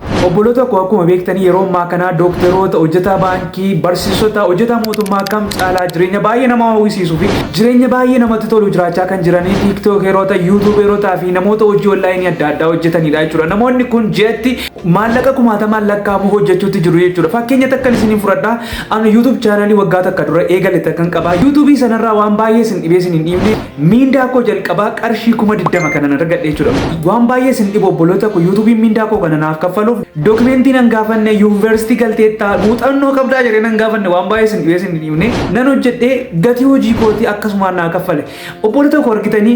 Obboloota koo akkuma beektanii yeroo ammaa kana dookteroota, hojjetaa baankii, barsiisota, hojjetaa mootummaa kam caalaa jireenya baay'ee nama hawwisiisuu fi jireenya baay'ee namatti tolu jiraachaa kan jiranii tiiktookeroota, yuutuubeerotaa fi namoota hojii onlaayinii adda addaa hojjetanidha jechuudha. Namoonni kun ji'atti maallaqa kumaatamaan lakkaa'amu hojjechuutti jiru jechuudha. Fakkeenya takkan isiniin fudhadha. Ani yuutuub chaanaalii waggaa takka dura eegale takkan qaba. Yuutuubii sanarraa waan baay'ee isin dhibee isin hin dhiibne Miindaa koo jalqabaa qarshii 20,000 kanan argadhe jechuudha. Waan baay'ee isin dhibu obboloota koo yuutubiin miindaa koo kana naaf kaffaluuf dokimentii nan gaafanne yuunivarsiitii galteettaa muuxannoo qabdaa jedhee nan gaafanne waan baay'ee isin dhibee isin hin himne nan hojjedhee gatii hojii kootii akkasumaan naa kaffale. Obboloota koo argitanii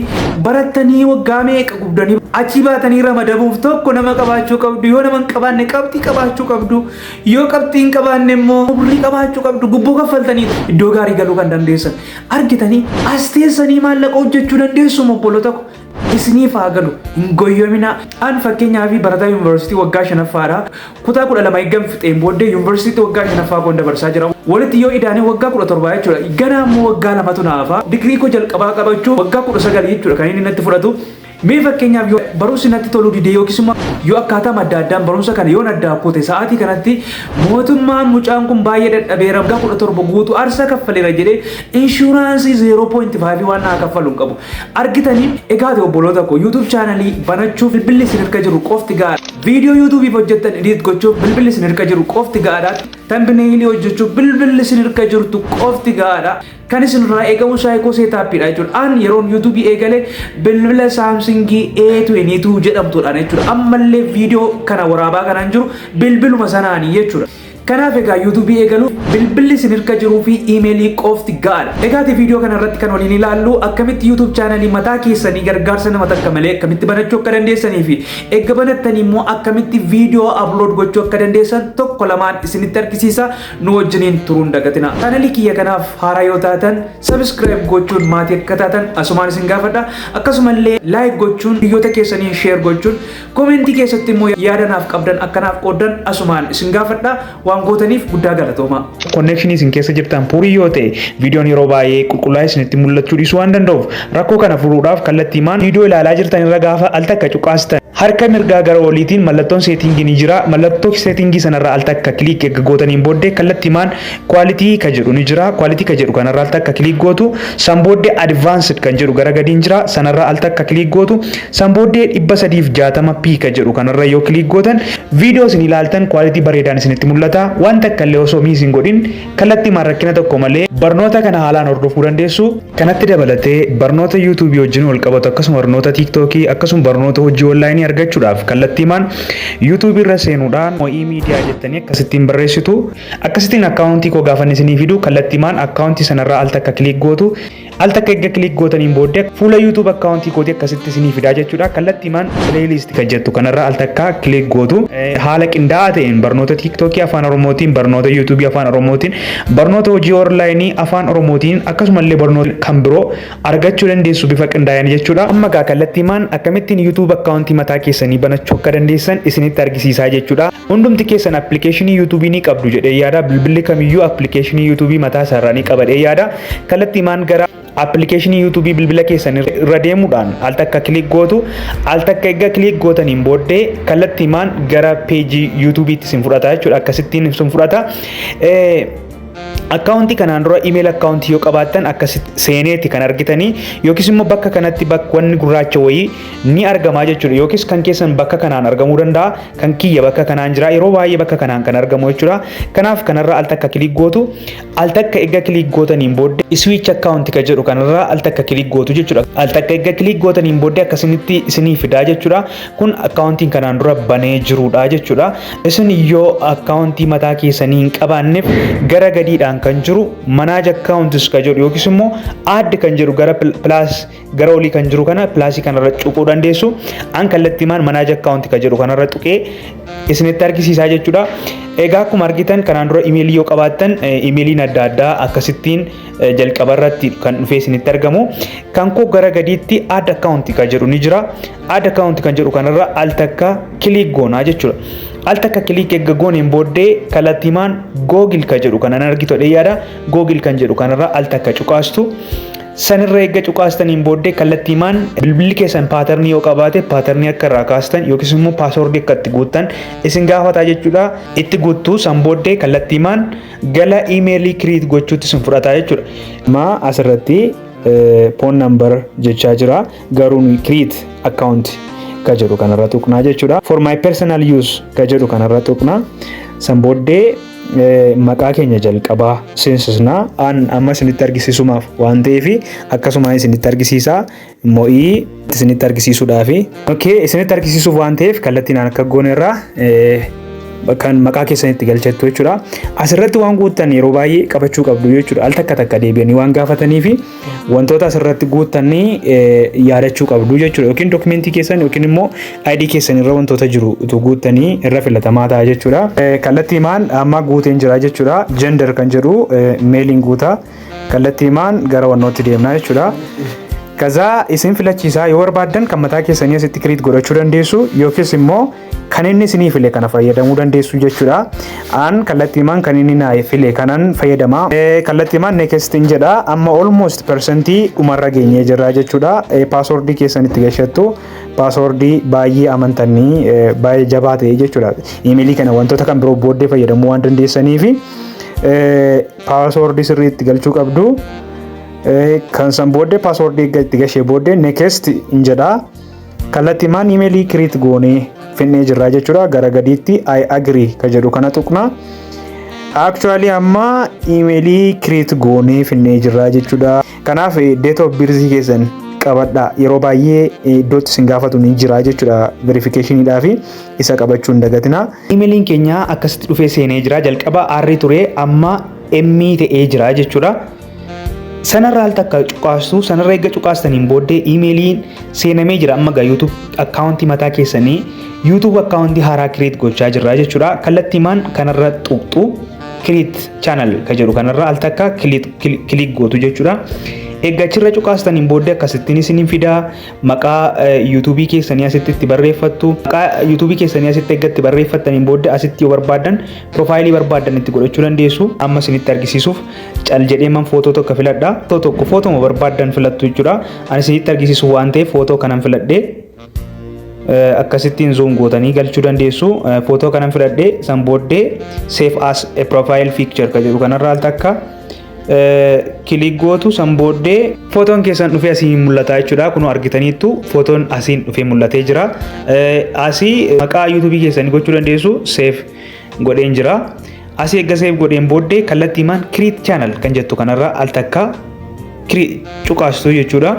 barattanii waggaa meeqa gubdanii achii baatanii ramadamuuf tokko nama qabaachuu qabdu yoo nama hin qabaanne qabxii qabaachuu qabdu yoo qabxii hin qabaanne immoo umrii qabaachuu qabdu gubboo kaffaltanii iddoo gaarii galuu kan dandeessan. Argitanii as teessanii maallaqa hojjechuu dandeessu obbolota ko isiniif haa galu hin goyyominaa an fakkeenyaa fi barataa yuunivarsiitii waggaa shanaffaadha kutaa kudha lama eeggan fixeen booddee yuunivarsiitii waggaa shanaffaa koon dabarsaa jira walitti yoo idaanee waggaa kudha torbaa jechuudha ganaa immoo waggaa lamatu naafa digirii koo jalqabaa qabachuu waggaa kudha sagal jechuudha kan inni natti fudhatu Mee fakkeenyaaf yoo barumsi natti toluu dide yookiis immoo yoo akkaataam adda addaan barumsa kana yoon addaa kute sa'aatii kanatti mootummaan mucaan kun baay'ee dadhabeera waggaa kudha torba guutuu arsa kaffaleera jedhee inshuraansii 0.5 waan naa kaffalu hin qabu. Argitanii egaati obboloota koo YouTube chaanalii banachuuf bilbilli isin harka jiru qofti ga'a. Viidiyoo YouTubeif hojjettan edit gochuuf bilbilli isin harka jiru qofti ga'aadha. Tambineelii hojjechuuf bilbilli isin harka jirtu qofti ga'aadha. Kan isin irraa eegamu saayikoo seetaappiidha jechuudha. An yeroon yuutuubii eegale bilbila saamsingii A22 jedhamtuudhaan jechuudha. Ammallee viidiyoo kana waraabaa kanaan jiru bilbiluma sanaanii jechuudha. Kanaaf egaa yuutuubii eegaluuf bilbilli isin irka jiruu fi iimeelii qofti ga'aadha. Egaati viidiyoo kana irratti kan waliin ilaallu akkamitti yuutuub chaanalii mataa keessanii gargaarsa nama takka malee akkamitti banachuu akka dandeessanii fi eegga banattanii immoo akkamitti viidiyoo upload gochuu akka dandeessan tokko lamaan isinitti argisiisa. nu wajjiniin turuun dagatina. Chaanalii kiyya kanaaf haaraa yoo taatan subscribe gochuun maatii akka taatan asumaan isin gaafadha. Akkasumallee like gochuun hiriyoota keessaniin share gochuun komentii keessatti immoo yaada naaf qabdan akka naaf qooddan asumaan isin gaafadha. Waan gootaniif guddaa galatoomaa. Konneekshinii isin keessa jirtan puurii yoo ta'e viidiyoon yeroo baay'ee qulqullaa'ee isinitti mul'achuu dhiisuu waan danda'uuf Rakkoo kana furuudhaaf kallattiimaan viidiyoo ilaalaa jirtan irra gaafa al takka cuqaasitan harka mirgaa gara oliitiin mallattoon seetiingii ni jira. Mallattoo seetiingii sanarra al takka kiliik erga gootaniin booddee kallattiimaan kwaalitii ka jedhu ni jira. Kwaalitii ka jedhu kanarra al takka kiliik gootu. San booddee advanced kan jedhu gara gadiin jira. Sanarra al takka kiliik gootu. San booddee 360p ka jedhu kanarra yoo kiliik gootan viidiyoo isin ilaaltan kwaalitii bareedaan isinitti mul'ata. Waan takka illee osoo miis hin godhin Kallattiimaan rakkina tokko malee barnoota kana haalaan hordofuu dandeessu. Kanatti dabalatee barnoota YouTube wajjin walqabatu akkasuma barnoota TikTok akkasuma barnoota hojii online argachuudhaaf kallattiimaan YouTube irra seenuudhaan Mo'ii Media jettanii akkasittiin barreessitu. Akkasittiin account koo gaafan isinii fidu kallattiimaan account sanarraa al takka click gootu. Al takka erga click gootaniin booddee fuula YouTube account kooti akkasitti isinii fidaa jechuudha. Kallattii maan playlist kan jettu kanarra al takka click gootu haala qindaa'aa ta'een barnoota TikTok afaan Oromootiin, barnoota YouTube afaan Oromootiin, barnoota hojii online afaan Oromootiin akkasumallee barnoota kan biroo argachuu dandeessu bifa qindaa'een jechuudha. Amma gaa kallattii maan akkamittiin YouTube account mataa keessanii banachuu akka dandeessan isinitti argisiisaa jechuudha. Hundumti keessan appilikeeshinii yuutuubii ni qabdu jedhee yaada. Bilbilli kamiyyuu appilikeeshinii yuutuubii mataa isaarraa ni qabadhee yaada. Kallattiimaan gara appilikeeshinii yuutuubii bilbila keessan irra deemuudhaan al takka kiliik gootu al takka egaa kiliik gootaniin booddee kallattiimaan gara peejii yuutuubiitti isin fudhata jechuudha akkasittiin isin fudhata. Akkaawuntii kanaan dura email akkaawuntii yoo qabaattan akkasitti seeneeti kan argitanii yookiis immoo bakka kanatti bakka wanni gurraacha wayii ni argamaa jechuudha yookiis kan keessan bakka kanaan argamuu danda'a kan kiyya bakka kanaan jira yeroo baay'ee bakka kanaan kan argamu jechuudha kanaaf kanarra al takka kilik gootu al takka egaa kilik gootaniin booddee iswiich akkaawuntii kan jedhu kanarra al takka kilik gootu jechuudha al takka egaa kilik gootaniin booddee akkasinitti isinii fidaa jechuudha kun akkaawuntiin kanaan dura banee jiruudha jechuudha. Isin yoo akkaawuntii mataa keessanii hin qabaanneef gara gadiidhaan kan jiru manaaja akkaawuntis kan jedhu yookiis immoo add kan jedhu gara pilaas gara olii kan jiru kana pilaasii kanarra cuquu dandeessu. An kallattii maan manaaja akkaawuntii kan jedhu kanarra tuqee isinitti argisiisaa jechuudha. Egaa akkuma argitan kanaan dura imeelii yoo qabaattan imeeliin adda addaa akkasittiin jalqaba irratti kan dhufee isinitti argamu kan koo gara gadiitti add account kan jedhu ni jira add account kan jedhu kanarra al takka kiliik goonaa jechuudha al takka kiliik eegga gooneen booddee kallattiimaan googil kan jedhu kanan argitu dhee yaada googil kan jedhu kanarra al takka cuqaastu sanirra eegga cuqaastaniin booddee kallattiimaan bilbilli keessan paatarnii yoo qabaate paatarnii akka irraa kaastan yookiis immoo paasoordii akka itti guuttan isin gaafataa jechuudha itti guuttu san booddee kallattiimaan Gala imeelii create gochuutti isin fudhataa jechuudha. Ma asirratti phone number jechaa jira garuu nuyi create account ka jedhu kanarra tuqnaa jechuudha. For my personal use ka jedhu kanarra tuqnaa. San booddee maqaa keenya jalqabaa seensisnaa. An amma isinitti argisiisumaaf waan ta'eef akkasumaan isinitti argisiisaa. mo'ii itti isinitti argisiisuudhaafi. Okay, isinitti argisiisuuf waan ta'eef kallattiin aan akka goone irraa kan maqaa keessan itti galchattu jechuudha. Asirratti waan guuttan yeroo baay'ee qabachuu qabdu jechuudha. Al takka takka deebi'anii waan gaafatanii fi wantoota asirratti guuttanii yaadachuu qabdu jechuudha. Yookiin dokumentii keessan yookiin immoo ID keessan irra wantoota jiru utuu guuttanii irra filatamaa ta'a jechuudha. Kallattii maan amma guuteen jira jechuudha. Gender kan jedhu meeliin guutaa. Kallattii himaan gara wannootti deemnaa jechuudha. Kazaa isin filachiisaa yoo barbaaddan kan mataa keessanii asitti kiriit godhachuu dandeessu yookiis immoo kan inni isinii file kana fayyadamuu dandeessu jechuudha. An kallattii himaan kan inni naa file kanan fayyadama. Kallattii himaan next in jedha amma almost persentii dhumarra geenyee jirra jechuudha. Paaswordii keessan itti gashattu paaswordii baay'ee amantanii baay'ee jabaa ta'e jechuudha. Imeelii kana wantoota kan biroo booddee fayyadamuu waan dandeessaniifi. Paaswoordii sirrii itti galchuu qabdu. Kan san booddee paaswoordii eegga itti gashee booddee next hin jedha. Kallattii maan imeelii kiriit goonee finnee jirraa jechuudha. Gara gadiitti I agree ka jedhu kana tuqna. Actually amma imeelii kiriit goonee finnee jirraa jechuudha. Kanaaf date of birth keessan qabadha yeroo baay'ee iddootti isin gaafatu ni jira jechuudha verification fi isa qabachuu hin dagatina. Imeliin keenya akkasitti dhufee seenee jira. Jalqaba R ture amma M ta'ee jira jechuudha. Sanarra al takka cuqaastu sanarra eegga cuqaastaniin booddee imeeliin seenamee jira amma gaa YouTube akkaawuntii mataa keessanii YouTube akkaawuntii haaraa kireet gochaa jirra jechuudha. Kallattiimaan kanarra tuqxu kireet chaanal ka jedhu kanarra al takka kiliik gootu jechuudha. Eegga achirra cuqaastaniin booddee akkasittiin isiniin fidaa maqaa yuutuubii keessanii asitti itti barreeffattu. Maqaa yuutuubii keessanii asitti eggatti barreeffattaniin booda asitti yoo barbaaddan piroofaayilii barbaaddan itti godhachuu dandeessu. Amma isinitti argisiisuuf cal jedhee man footoo tokko filadha. Footoo tokko footoma barbaaddan filattu jechuudha. Ani isinitti argisiisu waan ta'eef footoo kanan filadhe. Akkasittiin zoom gootanii galchuu dandeessu. Footoo kanan filadhe san booddee save as a profile picture kan jedhu kanarraa al takka Kilik gootu san booddee footoon keessan dhufee asii mul'ata jechuudha. Kunoo argitaniittu footoon asiin dhufee mul'atee jira. Asii maqaa yuutuubii keessanii gochuu dandeessu seef godheen jira. Asii eegga seef godheen booddee kallattii maan kiriit chaanal kan jettu kanarraa al takka cuqaastu jechuudha.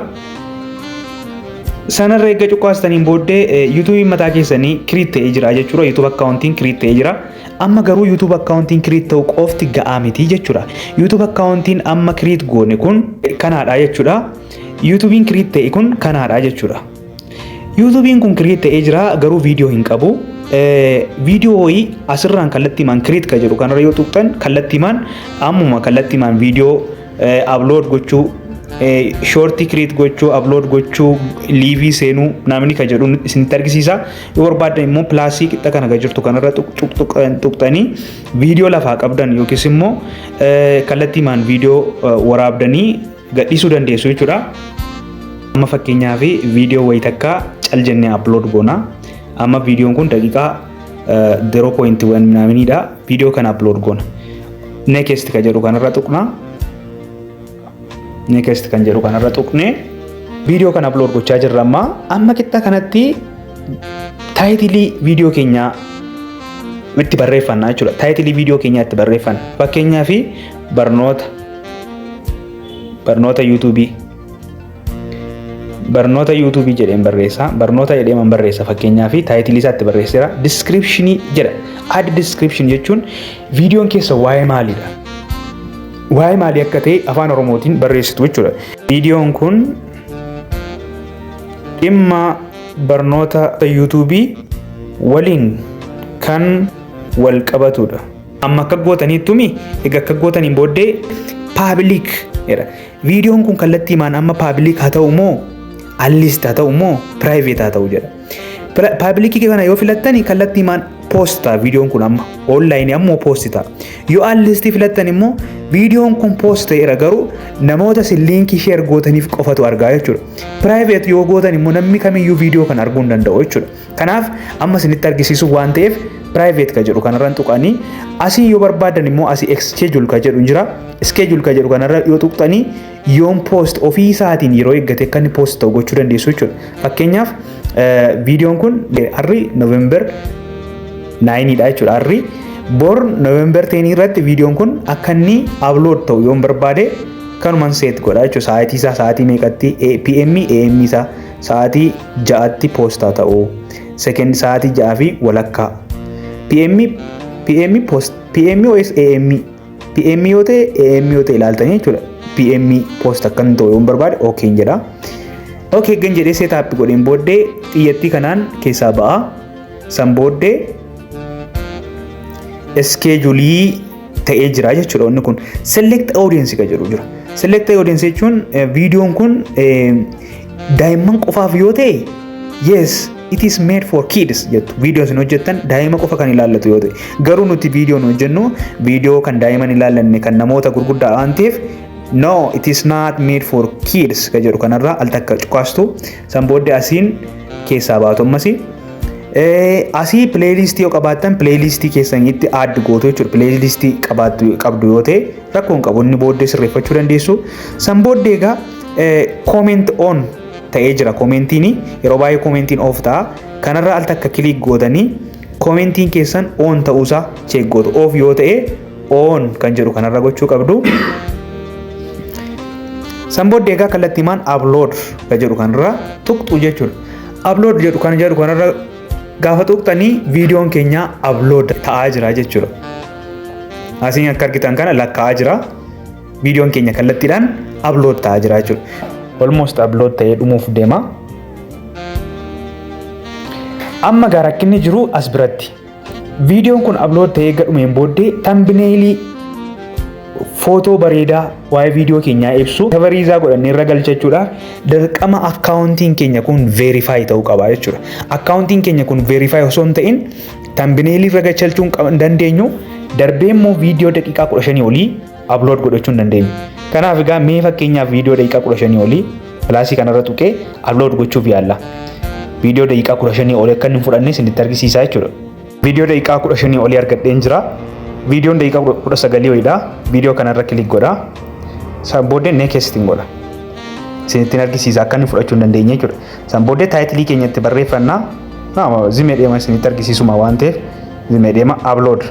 Sanarra eegga cuqaastaniin booddee yuutuubiin mataa keessanii kiriit ta'ee jira jechuudha. Yuutuub akkaawuntiin kiriit ta'ee jira. Amma garuu YouTube akkaawuntiin create ta'u qofti ga'aa miti jechuudha. YouTube akkaawuntiin amma create goone kun kanaadha jechuudha. YouTubein create ta'e kun kanaadha jechuudha. YouTubein kun create ta'ee jira garuu viidiyoo hin qabu. Viidiyoo wayii asirraan kallattiimaan create ka jedhu kanarra yoo tuqxan kallattiimaan ammuma kallattiimaan viidiyoo upload gochuu shoortii create gochuu upload gochuu liivii seenuu namni ka jedhu isinitti argisiisa. Yoo barbaaddan immoo pilaasii qixxa kana gad jirtu kanarra tuqxanii viidiyoo lafaa qabdan yookiis immoo kallattiimaan viidiyoo waraabdanii gadhiisuu dandeessu jechuudha. Amma fakkeenyaaf viidiyoo wayii takka cal jennee upload goona. Amma viidiyoon kun daqiiqaa 0.1 minaaminidha. Viidiyoo kana upload goona. Next ka jedhu kanarra tuqna. Next kan jedhu kanarra tuqnee viidiyoo kana upload gochaa jirra amma. Amma qixxa kanatti taayitilii viidiyoo keenyaa itti barreeffanna jechuudha. Taayitilii viidiyoo keenyaa itti barreeffanna. Fakkeenyaaf barnoota barnoota yuutuubii barnoota yuutuubii jedheen barreessa barnoota jedheeman barreessa fakkeenyaa fi taayitilii isaatti barreesseera diskiripshinii jedha ad diskiripshin jechuun viidiyoon keessa waa'ee maaliidha waa'ee maalii akka ta'e afaan oromootiin barreessitu jechuudha viidiyoon kun dhimma barnoota yuutuubii waliin kan wal qabatudha amma akka gootaniittumi egaa akka gootaniin booddee paabilik jedha Viidiyoon kun kallattii maan amma paabiliik haa ta'u moo alliist haa ta'u moo piraayiveet haa ta'u jedha. Paabilikii kana yoo filattani kallattii maan poost ta'a viidiyoon kun amma oonlaayinii ammoo poost ta'a. Yoo alliistii filattan immoo viidiyoon kun poost ta'eera garuu namoota isin liinkii sheer gootaniif qofatu argaa jechuudha. Piraayiveet yoo gootan immoo namni kamiyyuu viidiyoo kana arguu hin danda'u jechuudha. Kanaaf amma isinitti argisiisuu waan ta'eef private ka jedhu kanarran tuqanii asii yoo barbaadan immoo asii schedule ka jedhu jira schedule ka jedhu kanarra yoo tuqxanii yoon post ofii isaatiin yeroo eeggate akka inni post ta'u gochuu dandeessu jechuudha. Fakkeenyaaf viidiyoon kun harri November 9 dha jechuudha harri bor November 10 irratti viidiyoon kun akka inni upload ta'u yoon barbaade kanuman seet godha jechuudha sa'aatii isaa sa'aatii meeqatti PM AM isaa Sa'aatii 6tti poostaa ta'uu. Second sa'aatii 6 fi walakkaa. PM PM post PM OS AM PM yoo ta'e AM yoo ta'e ilaaltanii jechuudha. PM post akka inni ta'u yoo barbaade OK hin jedha. OK gan jedhee seetaappi godheen booddee xiyyattii kanaan keessaa ba'a. San booddee iskeejulii ta'ee jira jechuudha wanni kun select audience ka jedhu jira select audience jechuun viidiyoon kun daa'imman qofaaf yoo ta'e yes it is made for kids jettu viidiyoon isin hojjettan daa'ima qofa kan ilaallatu yoo ta'e garuu nuti viidiyoon hojjennu viidiyoo kan daa'iman ilaallanne kan namoota gurguddaa waan ta'eef no it is not made for kids ka jedhu kanarraa al takka cuqaastu San booddee asiin keessaa baatu ammasi. Asii pileeylistii yoo qabaattan pileeylistii keessanitti add gootu jechuudha. Pileeylistii qabdu yoo ta'e rakkoo hin qabu inni booddee sirreeffachuu dandeessu. San booddee egaa comment on ta'ee jira koomentiini yeroo baay'ee koomentiin off ta'a. Kanarra al takka kiliik gootanii koomentiin keessan on ta'uusaa cheek gootu. Off yoo ta'e on kan jedhu kanarra gochuu qabdu. San booddee egaa kallattiimaan upload ka jedhu kanarra tuqxu jechuudha. Upload jedhu kan jedhu kanarra gaafa tuqxanii viidiyoon keenya upload ta'aa jira jechuudha. Asiin akka argitan kana lakkaa'aa jira. Viidiyoon keenya kallattiidhaan upload ta'aa jira jechuudha. Almost upload ta'ee dhumuuf deema. Amma gaa rakkinni jiru as biratti. Viidiyoon kun upload ta'ee eega dhumeen booddee thumbnail footoo bareedaa waa'ee viidiyoo keenyaa ibsu kavariizaa godhannee irra galcha jechuudha. Dirqama akkaawuntiin keenya kun verify ta'uu qaba jechuudha. Akkaawuntiin keenya kun verify osoo hin ta'in thumbnail irra galchachuu hin dandeenyu. Darbee immoo viidiyoo daqiiqaa 15 olii upload godhachuu hin dandeenyu. Kanaaf egaa mee fakkeenyaaf viidiyoo daqiiqaa 15 olii pilaasii kanarra tuqee upload gochuuf yaalla. Viidiyoo daqiiqaa 15 olii akka inni hin fudhanne isinitti argisiisaa jechuudha. Viidiyoo daqiiqaa 15 olii argadheen jira. Viidiyoon daqiiqaa 19 wayidha. Viidiyoo kanarra kilik godha. San booddee next hin godha. Isinittiin argisiisa akka inni fudhachuu hin dandeenye jechuudha. San booddee taayitilii keenyatti barreeffannaa zimee deema isinitti argisiisuma waan ta'eef zimee deema upload.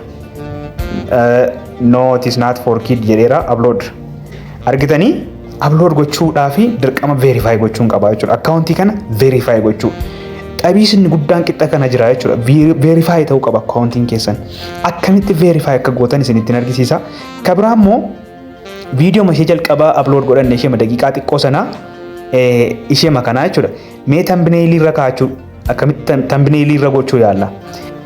no it is not for kid jedheera upload argitanii upload gochuudhaa fi dirqama verify gochuun qaba jechuudha akkaawuntii kana verify gochuu xabiis inni guddaan qixxa kana jira jechuudha verify ta'uu qaba akkaawuntiin keessan akkamitti verify akka gootan isinittiin argisiisa kabraa immoo viidiyoo ishee jalqabaa upload godhanne ishee daqiiqaa xiqqoo sanaa ishee makanaa jechuudha mee tambineelii irra kaa'achuu akkamitti tambineelii irra gochuu yaalla.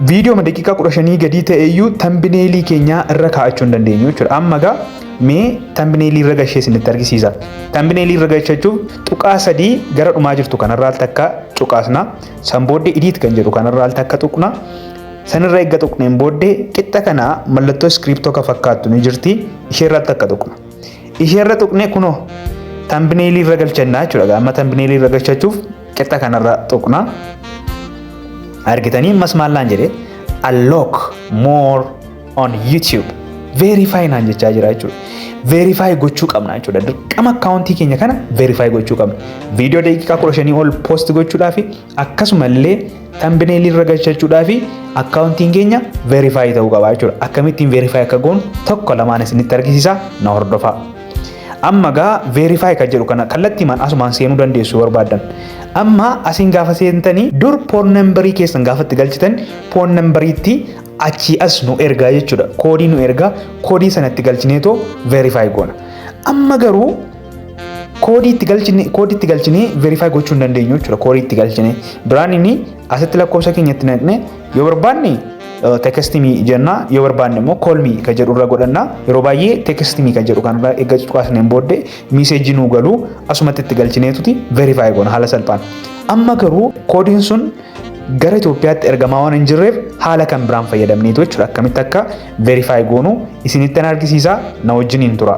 Viidiyooma daqiiqaa kudha shanii gadii ta'e iyyuu tambineelii keenyaa irra kaa'achuu hin dandeenyu jechuudha. Amma egaa mee tambineelii irra gashee isinitti argisiisa. Tambineelii irra gashachuuf tuqaa sadii gara dhumaa jirtu kanarraa takka cuqaasna. San booddee idiit kan jedhu kanarraa takka tuqna. Sanirra eegga tuqneen booddee qixxa kana mallattoo iskiriiptoo kan fakkaattu ni jirti. Isheerraa takka tuqna. Isheerra tuqnee kunoo tambineelii irra galchannaa jechuudha. Amma tambineelii irra gashachuuf Qixxa kanarra tuqna. Argitanii ammas maal naan jedhe unlock more on YouTube. Verify naan jechaa jira jechuudha. Verify gochuu qabna jechuudha. Dirqama akkaawuntii keenya kana verify gochuu qabna. Viidiyoo daqiiqaa kudha shanii ol post gochuudhaa fi akkasumallee tambineelii irra galchachuudhaa fi akkaawuntiin keenya verify ta'uu qaba jechuudha. Akkamittiin verify akka goonu tokko lamaan isinitti argisiisa na hordofaa. Amma egaa verify kan jedhu kana kallattiimaan asumaan seenuu dandeessu yoo barbaaddan. Amma asiin gaafa seentanii dur phone numberii keessan gaafa itti galchitan phone numberiitti achii as nu ergaa jechuudha. Koodii nu ergaa koodii sana itti galchineetoo verify goona. Amma garuu koodii itti galchine koodii itti galchinee verify gochuu hin dandeenyu jechuudha. Koodii itti galchine duraan inni asitti lakkoofsa keenya itti naqne Yoo barbaanne tekestimii jenna yoo barbaanne immoo koolmii kan jedhu irra godhanna yeroo baay'ee tekestimii kan jedhu kanarra eegga cuqaasneen booddee miiseejii nuu galuu asumatti itti galchineetuti verifaayi goona haala salphaan. Amma garuu koodiin sun gara Itoophiyaatti ergamaa waan hin jirreef haala kan biraan fayyadamneetu jechuudha akkamitti akka verifaayi goonu isinitti an argisiisa na wajjin hin tura.